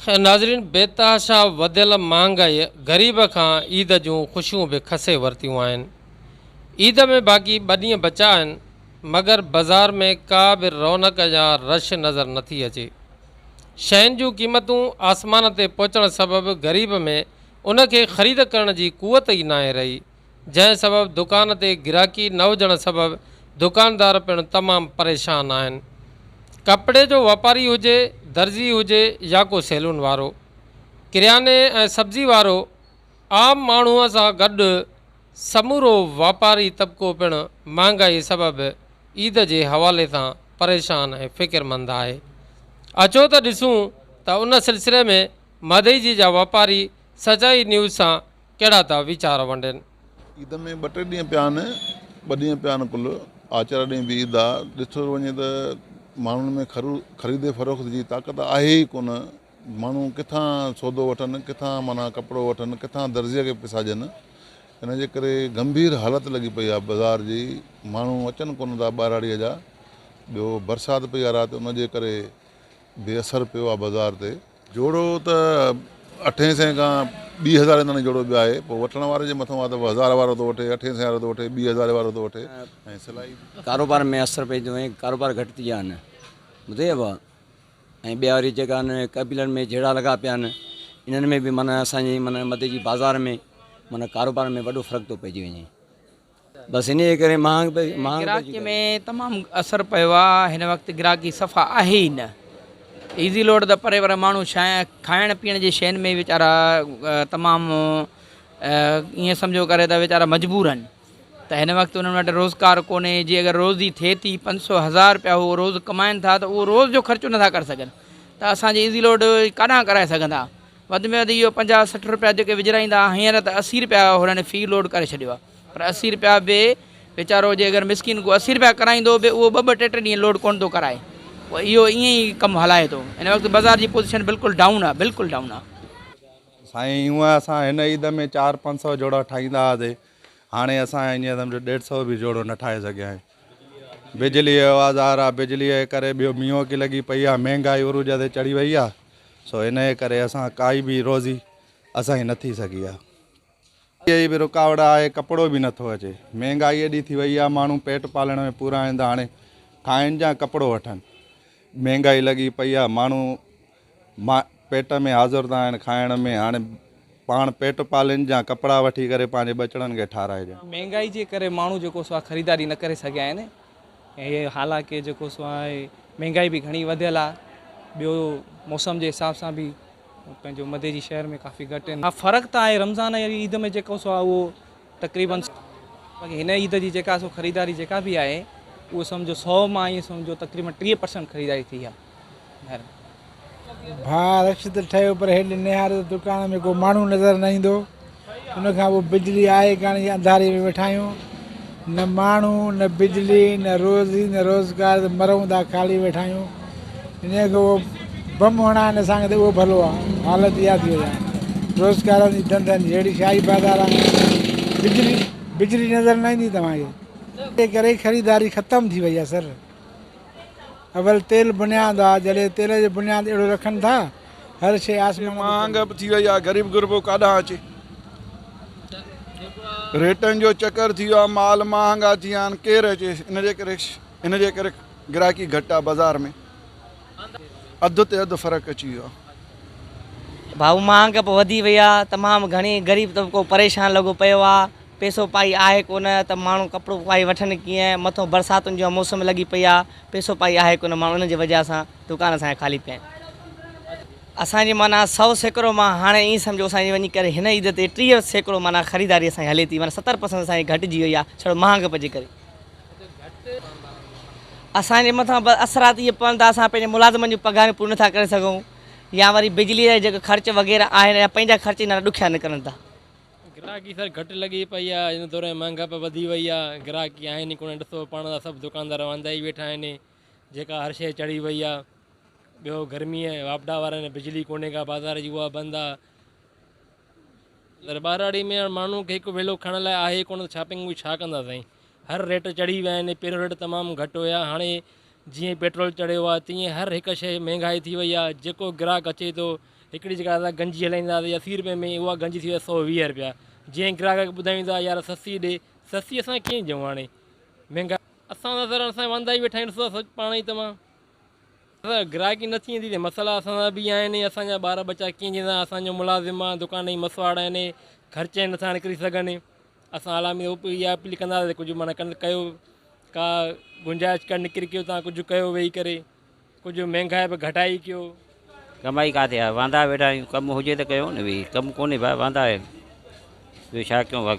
خير ناظرين بيتحاشا وڌيل مهانگائيء غريب کان عيد جون خوشيون به کسي ورتيون آهن. عيد ۾ باقي ٻه ڏينهن بچا آهن مگر بزار ۾ ڪا به رونق يا رش نظر نٿي اچي. شين جون قيمتون آسمان تي پهچڻ سبب غريب ۾ ان کي خريد ڪرڻ جي قوت ئي ناهي رهي. جنهن سبب دڪان تي گراڪي نه هجڻ سبب دڪاندار پڻ تمام پريشان آهن. ڪپڙي جو واپاري هجي، درزي هجي يا ڪو سيلون وارو، ڪرياني ۽ سبزي وارو عام ماڻهو سان گڏ سمورو واپاري طبقو پڻ مهانگائي سبب عيد جي حوالي سان پريشان ۽ فڪرمند آهي. اچو ته ڏسون ته ان سلسلي ۾ مدئجي جا واپاري سچائي نيوز سان ڪهڙا ٿا ويچار ونڊين. عيد ۾ ٻه ٽي ڏينهن پيا آهن، ٻه ڏينهن پيا آهن ڪل، آچار ڏينهن به عيد آ، ڏٺو وڃي ته ماڻهن ۾ خرو خريد فروخت جي طاقت آهي ئي ڪونه، ماڻهو ڪٿان سودو وٺن، ڪٿان معنيٰ ڪپڙو وٺن، ڪٿان درزيء کي پيسا ڏين، ان جي ڪري گنڀير حالت لڳي پئي آ بازار جي، ماڻهو اچن ڪونه ٿا ٻهراڙيء جا، ٻيو برسات پئي آ رات ان جي ڪري به اثر پيو آ بازار تي. جوڙو ته اٺين سئين کان ٻي هزارين تائين جوڙو به آهي پوء وٺڻ واري جي مٿون آهي ته هزار وارو ٿو وٺي اٺين سئين وارو ٿو وٺي ٻي هزاري وارو ٿو وٺي ۽ سلائي به. ڪاروبار ۾ اثر پئي ٿو ۽ ڪاروبار گهٽ ٿي ويا آهن ٻڌئي ابا ۽ ٻيا وري جيڪا ان ۾ قبيلن ۾ جهيڙا لڳا پيا آهن انهن ۾ به معنيٰ اسان جي معنيٰ مدي جي بازار ۾ معنيٰ ڪاروبار ۾ وڏو فرق ٿو پئجي وڃي. بس انهيء ڪري مهانگ پئجي ويو. گراهڪيء ۾ تمام اثر پيو آ، هن وقت گراهڪي صفا آهي ئي نه. ايزي لوڊ ته پري پر ماڻهو شاين کائڻ پيئڻ جي شين ۾ ويچارا تمام ائين سمجهو ڪري ته ويچارا مجبور آهن ته هن وقت انهن وٽ روزگار ڪونهي جي اگر روزي ٿئي ٿي پنج سؤ هزار رپيا هو روز ڪمائن ٿا ته اهو روز جو خرچو نٿا ڪري سگهن ته اسان جي ايزي لوڊ ڪاڏانهن ڪرائي سگهندا وڌ ۾ وڌ اهو پنجاهه سٺ رپيا جيڪي وجهرائيندا ها هينئر ته اسي رپيا هنن في لوڊ ڪري ڇڏيو آهي پر اسي رپيا به ويچارو جي اگر مسڪين ڪو اسي رپيا ڪرائيندو به اهو ٻه ٻه ٽي ٽي ڏينهن لوڊ ڪونه ٿو ڪرائي پوء اهو ائين ئي ڪم هلائي ٿو هن وقت بازار جي پوزيشن بلڪل ڊائون آهي بلڪل ڊائون آهي. سائين هونء اسان هن عيد ۾ چار پنج سؤ جوڙا ٺاهيندا هئاسين هاڻي اسان هينئر سمجهو ڏيڍ سؤ به جوڙو نه ٺاهي سگهيا آهيون بجلي جو آواز آ رها بجلي جي ڪري ٻيو مينهن کي لڳي پئي آ مهنگائي عروج تي چڙهي وئي آ سو ان جي ڪري اسان ڪائي به روزي اسان جي نٿي سگهي آ جي به رڪاوٽ آهي ڪپڙو به نٿو اچي مهنگائي ايڏي ٿي وئي آ ماڻهو پيٽ پالڻ ۾ پورا آهن ته هاڻي کائن جا ڪپڙو وٺن مهنگائي لڳي پئي آ ماڻهو مان پيٽ ۾ حاضر ٿا آهن کائڻ ۾ هاڻي پاڻ پيٽ پالين جا ڪپڙا وٺي ڪري پنهنجي ٻچڙن کي ٺاراهجن. مهنگائي جي ڪري ماڻهو جيڪو سو آهي خريداري نه ڪري سگهيا آهن ۽ حالانڪه جيڪو سو آهي مهنگائي به گهڻي وڌيل آهي ٻيو موسم جي حساب سان به پنهنجو مدي جي شهر ۾ ڪافي گهٽ آهن ها فرق ته آهي رمضان ۽ عيد ۾ جيڪو سو آهي اهو تقريبن باقي هن عيد جي جيڪا سو خريداري جيڪا به آهي اهو سمجهو سو مان ائين سمجهو تقريبن ٽيهه پرسنٽ خريداري ٿي آهي مهرباني ڀاء رش ته ٺهيو پر هيڏي نهار ته دڪان ۾ ڪو ماڻهو نظر نه ايندو ان کان پوء بجلي آهي ڪاڻي جي انڌاري ۾ ويٺا آهيون نه ماڻهو نه بجلي نه روزي نه روزگار ته مرون ٿا خالي ويٺا آهيون انهيء کي اهو بم هڻائين اسان کي ته اهو ڀلو آ. حالت اها ٿي وئي آ. روزگارن جي ڌنڌن جي ههڙي شاهي بازار آ بجلي بجلي نظر نه ايندي توهان کي. انهيء ڪري ئي خريداري ختم ٿي وئي آ سر. اول تيل بنياد آ جڏهن تيل جو بنياد اهڙو رکن ٿا هر شيء آسمان تي مهانگ ٿي وئي آ غريب غربو ڪاڏانهن اچي. ريٽن جو چڪر ٿي ويو آ مال مهانگا ٿي ويا آهن ڪير اچي ان جي ڪري ان جي ڪري. گراهڪي گهٽ آ بازار ۾ اڌ تي اڌ فرق اچي ويو آ. ڀائو مهانگ به وڌي وئي آ تمام گهڻي غريب طبقو پريشان لڳو پيو آ پيسو پائي آهي ڪونه ته ماڻهو ڪپڙو پائي وٺن ڪيئن مٿو برساتن جون موسم لڳي پئي آ پيسو پائي آهي ڪونه ماڻهو ان جي وجه سان دڪان اسان جا خالي پيا آهن اسان جي معنيٰ سؤ سيڪڙو مان هاڻي ائين سمجهو اسان جي وڃي ڪري هن عيد تي ٽيهه سيڪڙو معنيٰ خريداري اسان جي هلي ٿي معنيٰ ستر پرسنٽ اسان جي گهٽجي وئي آ ڇڙو مهانگپ جي ڪري. اسان جي مٿان بد اثرات اهي پون ته اسان پنهنجي ملازمن جون پگهاريون پوريون نٿا ڪري سگهون يا وري بجلي جا جيڪي خرچ وغيره آهن يا پنهنجا خرچ هينئر ڏکيا نڪرن ٿا. گراهڪي سر گهٽ لڳي پئي آهي هن دور ۾ مهانگائي وڌي وئي آهي گراهڪي آهن ئي ڪونه ڏسو پاڻ ته سڀ دڪاندار واندا ئي ويٺا آهن جيڪا هر شيء چڙهي وئي آهي ٻيو گرمي واپڊا وارن بجلي ڪونهي ڪا بازار جي اها بند آهي پر ٻهراڙي ۾ هاڻ ماڻهن کي هڪ ويلو کائڻ لاء آهي ئي ڪونه ته ڇا پنگون ڇا ڪندا سائين. هر ريٽ چڙهي ويا آهن، پهريون ريٽ تمام گهٽ هيا هاڻي جيئن پيٽرول چڙهيو آهي تيئن هر هڪ شيء مهنگائي ٿي وئي آهي، جيڪو گراهڪ اچي ٿو هڪڙي جيڪا اسان گنجي هلائيندا هئاسين اسي رپئي ۾ اها گنجي ٿي وئي آهي سؤ ويهه رپيا، جيئن گراهڪ کي ٻڌايون ته يار سستي ڏي، سستي اسان ڪيئن ڏيون هاڻي مهنگائي اسان سر اسان واندا ئي ويٺا آهيون ڏسو ٿا پاڻ ئي توهان. اگر گراهڪي نه ٿيندي ته مسئلا اسان سان به آهن ۽ اسان جا ٻار ٻچا ڪيئن جنهن سان اسان جو ملازم آهن دڪان جي مسواڙ آهن خرچ نه ٿا نڪري سگهن اسان علامي اهو اها اپيل ڪنداسين ته ڪجهه معنيٰ ڪن ڪيو ڪا گنجائش ڪا نڪري ڪيو تان ڪجهه ڪيو ويهي ڪري ڪجهه مهنگائي به گهٽائي ڪيو ڪمائي ڪاٿي آهي واندا ويٺا آهيون ڪم هجي ته ڪيو نه ويهي ڪم ڪونهي ڀاء واندا آهيون ٻيو ڇا ڪيون وڳ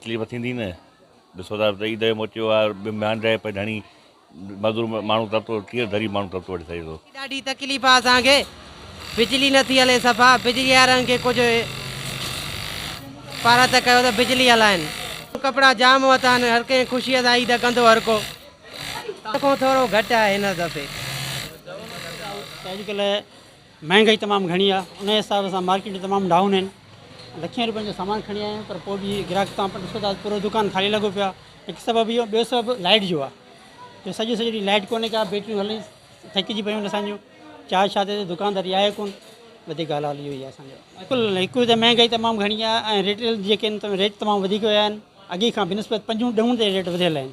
تڪليف ٿيندي نه ڏسو ٿا ته عيد جو موچيو آ ميان رهي پئي ڌڻي مزور ماڻهو ترتو ڪيئن ڌري ماڻهو ترتو وٺي سگهي ٿو. ڏاڍي تڪليف آ اسان کي بجلي نٿي هلي صفا بجلي وارن کي ڪجهه پارت ڪيو ته بجلي هلائين. ڪپڙا جام ورتا آهن هر ڪنهن خوشي سان عيد ڪندو هر ڪو ان کان ٿورو گهٽ آهي هن دفعي. مهانگائي تمام گهڻي آهي ان حساب سان مارڪيٽون تمام ڊائون آهن لکين روپين جو سامان کڻي آيا آهيون پر پوء به گراهڪ تان ڏسو ٿا پورو دڪان خالي لڳو پيو آهي هڪ سبب اهو ٻيو سبب لائٽ جو آهي جو سڄو سڄو ڏينهن لائٽ ڪونهي ڪا بيٽريون هلي ٿڪجي پيون اسان جون چار شاهه تي دڪانداري آهي ڪون وڌيڪ ڳالهه حال اهو ئي آهي اسان جو بلڪل هڪ ته مهانگائي تمام گهڻي آهي ۽ ريٽيل جيڪي آهن ريٽ تمام وڌيڪ ويا آهن اڳي کان بنسبت پنجون ڏهون تي ريٽ وڌيل آهن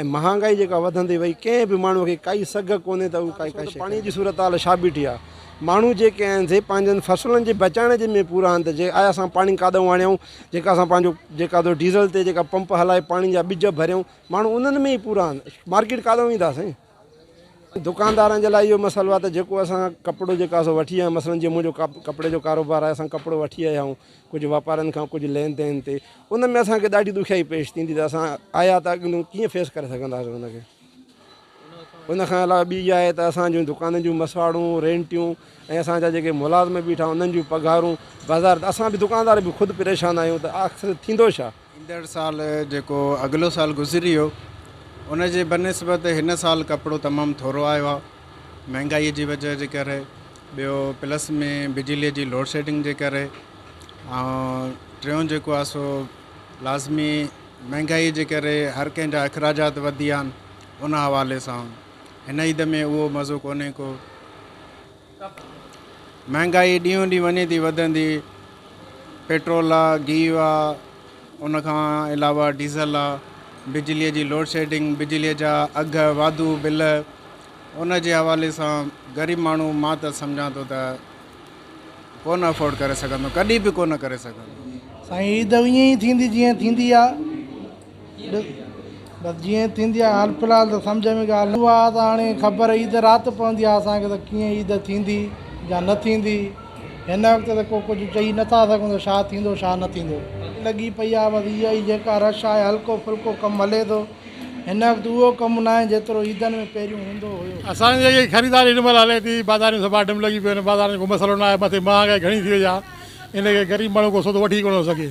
۽ مهانگائي جيڪا وڌندي وئي ڪنهن به ماڻهو کي ڪائي سگهه ڪونهي ته هو ڪائي ڪائي شيء پاڻي جي صورتحال ڇا بيٺي آ ماڻهو جيڪي آهن سي پنهنجن فصلن جي بچائڻ جي ۾ پورا آهن ته جي آيا اسان پاڻي ڪاڏئون آڻيائون جيڪا اسان پنهنجو جيڪا ته ڊيزل تي جيڪا پمپ هلائي پاڻي جا ٻج ڀريائون ماڻهو انهن ۾ ئي پورا آهن مارڪيٽ ڪاڏئون ويندا سائين دڪاندارن جي لاء اهو مسئلو آ ته جيڪو اسان ڪپڙو جيڪا سو وٺي آيا مثلا جي منهنجو ڪپڙي جو ڪاروبار آهي اسان ڪپڙو وٺي آيا آهيون ڪجهه واپارين کان ڪجهه لين دين تي ان ۾ اسان کي ڏاڍي ڏکيائي پيش ٿيندي ته اسان آيا ته اڳليون ڪيئن فيس ڪري سگهنداسين ان کي ان کان علاوه ٻي جاء ته اسان جون دڪانن جون مسواڙون رينٽيون ۽ اسان جا جيڪي ملازم بيٺا انهن جون پگهارون بازار اسان به دڪاندار به خود پريشان آهيون ته آخر ٿيندو ڇا ايندڙ سال جيڪو اڳلو سال گذري ويو ان جي بنسبت هن سال ڪپڙو تمام ٿورو آيو آهي مهنگائي جي وجه جي ڪري ٻيو پلس ۾ بجلي جي لوڊ شيڊنگ جي ڪري ۽ ٽيون جيڪو آهي سو لازمي مهنگائي جي ڪري هر ڪنهن جا اخراجات وڌي ويا آهن ان حوالي سان هن عيد ۾ اهو مزو ڪونهي ڪو مهانگائي ڏينهون ڏينهن وڃي ٿي وڌندي، پيٽرول آ، گيهه آ، ان کان علاوه ڊيزل آ، بجلي جي لوڊشيڊنگ، بجلي جا اگهه، واڌو بل، ان جي حوالي سان غريب ماڻهو مان ته سمجهان ٿو ته ڪو نه افورڊ ڪري سگهندو، ڪڏهن به ڪو نه ڪري سگهندو. سائين عيد ائين ئي ٿيندي جيئن ٿيندي آ. ڏس بس جيئن ٿيندي آهي حال في الحال ته سمجهه ۾ ڳالهه نه اها ته هاڻي خبر عيد رات پوندي آهي اسان کي ته ڪيئن عيد ٿيندي يا نه ٿيندي هن وقت ته ڪو ڪجهه چئي نه ٿا سگهون ته ڇا ٿيندو ڇا نه ٿيندو. لڳي پئي آهي بس اها ئي جيڪا رش آهي هلڪو ڦلڪو ڪم هلي ٿو هن وقت اهو ڪم نه آهي جيترو عيدن ۾ پهريون هوندو هيو. اسان جي جيڪي خريداري هن مهل هلي ٿي بازاريون سڀا ڊم لڳي پيون آهن بازارن جو ڪو مسئلو نه آهي مٿي مهانگائي گهڻي ٿي وئي آهي ان ڪري غريب ماڻهو ڪو سودو وٺي ڪونه ٿو سگهي.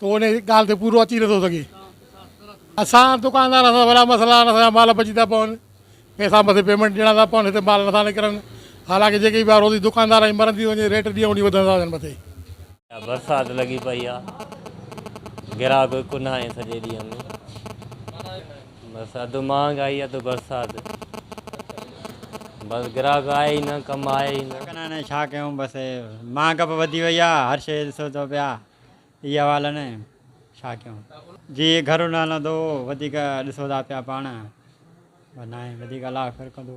تون ان ڳالهه تي پورو اچي نٿو سگهين. اسان دڪاندارن سان وڏا مسئلا آهن، اسان جا مال بچي ٿا پون، پئسا مٿي پيمنٽ ڏيڻا ٿا پون، هتي مال نٿا نڪرن، حالانڪ جيڪي به آهي روزي دڪاندار ۽ مرن ٿي ٿو وڃي، ريٽ ڏينهون ڏينهن وڌندا ٿا وڃن مٿي. برسات لڳي پئي آ گراهڪ به ڪونه آهن سڄي ڏينهن ۾ بس اڌ مهانگائي اڌ برسات بس گراهڪ آهي ئي نه ڪم آهي ئي نه. ڇا ڪريون ڇا ڪريون بس مهانگپ وڌي وئي آ هر شي ڏسو ٿو پيا. اهي حوال نه ڇا ڪيون. جي گهر نه هلندو وڌيڪ ڏسو ٿا پيا پاڻ. بس ناهي وڌيڪ الله خير ڪندو.